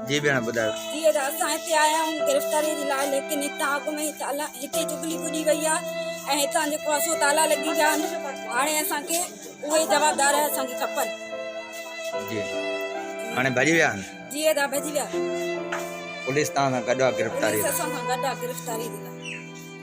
جي ڀيڻ ٻڌايو جي ادا اسان هتي آيا آهيون گرفتاري جي لاء ليڪن هتان اڳ ۾ هتي جبلي ٻڏي وئي آهي ۽ هتان جيڪو اسو تالا لڳي ويا آهن هاڻي اسان کي اهي جوابدار اسان کي کپن جي هاڻي ڀڄي ويا آهن جي ادا ڀڄي ويا پوليس تان گڏا گرفتاري اسان گڏا گرفتاري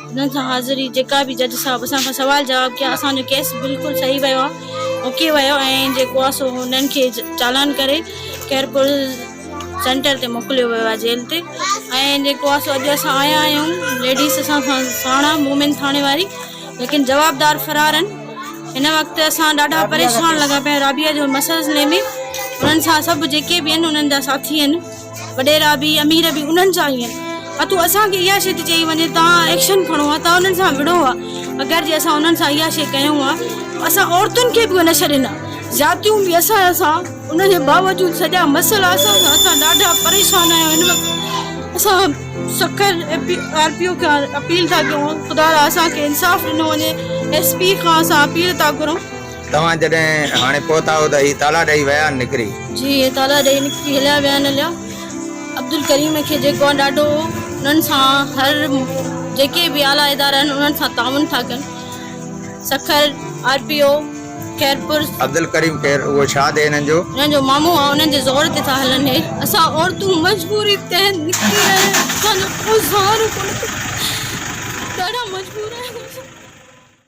انهن سان حاضري جيڪا به جج صاحب اسان کان سوال جواب ڪيا اسان جو ڪيس بلڪل صحيح ويو آهي اوڪي ويو ۽ جيڪو آهي سو انهن کي چالان ڪري خيرپور سينٽر تي موڪليو ويو آهي جيل تي ۽ جيڪو آهي سو اڄ اسان آيا آهيون ليڊيز اسان سان ساڻ آهي مومن ٿاڻي واري ليڪن جوابدار فرار آهن هن وقت اسان ڏاڍا پريشان لڳا پيا آهيون رابعه جو مسئلي ۾ انهن سان سڀ جيڪي به آهن انهن جا ساٿي آهن وڏيرا به امير به انهن جا ئي آهن اتو اسان کي اها شي ٿي چئي وڃي توهان ايڪشن کڻو ها توهان انهن سان وڙهو ها اگر جي اسان انهن سان اها شي ڪيون ها اسان عورتن کي به نه ڇڏيندا زيادتيون به اسان اسان ان جي باوجود سڄا مسئلا اسان سان اسان ڏاڍا پريشان آهيون هن وقت اسان سکر آر پي او کي اپيل ٿا ڪيون خدا را اسان کي انصاف ڏنو وڃي ايس پي کان اسان اپيل ٿا گهرون توهان جڏهن هاڻي پهتا هو ته هي تالا ڏئي ويا آهن نڪري؟ جي هي تالا ڏئي نڪري هليا ويا آهن عليا. عبدالڪريم کي جيڪو آهن ڏاڍو هو انهن سان هر جيڪي به اعليٰ ادارا آهن انهن سان تعاون ٿا ڪن Sukkur R P O Khairpur. Abdulkarim خير اهو ڇا ٿئي هنن جو؟ هنن جو مامو آهن انهن جي زور تي ٿا هلن هي. اسان عورتون مجبوري تحت نڪري رهيا آهيون اسان جو ڪو سهارو ڪونه ٿو ڏاڍا مجبور آهيون اسان.